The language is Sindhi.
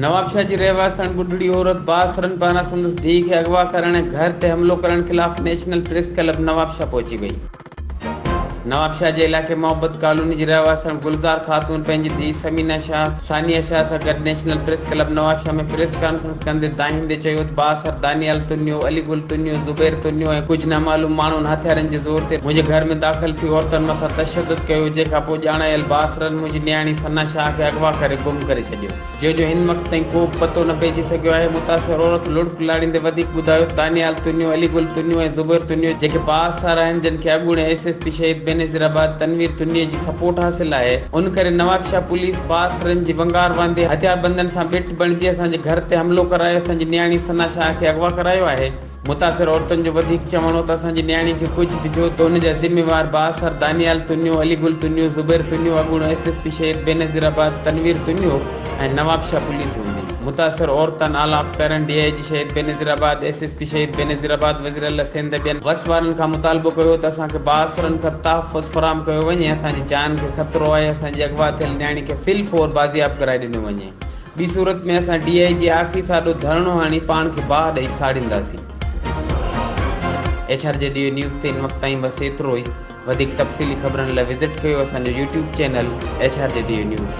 نوابشاهه جي رهواسڻ ٻڍڙي عورت بااثرن پاران سندس ڌيء کي اغوا ڪرڻ ۽ گهر تي حملو ڪرڻ خلاف نيشنل پريس ڪلب نوابشاهه پهچي وئي. نوابشاهه جي علائقي محبت ڪالوني جي رهواسڻ گلزار خاتون پنهنجي ڌيء ثمينه شاهه، ثانيه شاهه سان گڏ national press club Nawabshah ۾ press conference ڪندي دانهيندي چيو ته بااثر دانيال تنيو، علي گل تنيو، زبير تنيو ۽ ڪجهه نامعلوم ماڻهن هٿيارن جي زور تي منهنجي گهر ۾ داخل ٿي عورتن مٿان تشدد ڪيو جنهن کان پوء ڄاڻايل بااثرن منهنجي نياڻي ثنا شاهه کي اغوا ڪري گم ڪري ڇڏيو جنهن جو هن وقت تائين ڪو به پتو نه پئجي سگهيو آهي متاثر عورت لڙڪ لاڙيندي وڌيڪ ٻڌايو ته دانيال تنيو، علي گل تنيو ۽ زبير تنيو جيڪي بااثر آهن جن کي اڳوڻي S S P Shaheed Benazir آباد تنوير تنيي جي سپورٽ حاصل آهي ان ڪري نوابشاهه پوليس بااثرن جي ونگار واندي هٿياربندن سان بڻجي اسان جي گهر تي حملو ڪرائي اسان جي نياڻي ثنا شاهه کي اغوا ڪرايو آهي متاثر عورتن جو وڌيڪ چوڻ هو ته اسان جي نياڻي کي ڪجهه به ٿيو ته ان جا ذميوار بااثر دانيال تنيو، علي گل تنيو، زبير تنيو، اڳوڻو S S P Shaheed Benazir آباد تنوير تنيو ۽ نوابشاهه پوليس هوندي متاثر عورتن اعليٰ اختيارن D I G Shaheed Benazirabad, S S P Shaheed Benazir آباد، وزيراعليٰ سنڌ ٻين وس وارن کان مطالبو ڪيو ته اسان کي بااثرن کان تحفظ فراهم ڪيو وڃي اسان جي جان کي خطرو آهي اسان جي اغوا ٿيل نياڻي کي في الفور بازياب ڪرائي ڏنو وڃي. ٻي صورت ۾ اسان ڊي آء جي آفيس آڏو ڌرڻو هڻي پاڻ کي باهه ڏئي ساڙينداسين. H R G D O news تي ان وقت تائين بس ايترو ئي. وڌيڪ تفصيلي خبرن لاء وزٽ ڪيو اسان جو YouTube channel H R G D O news.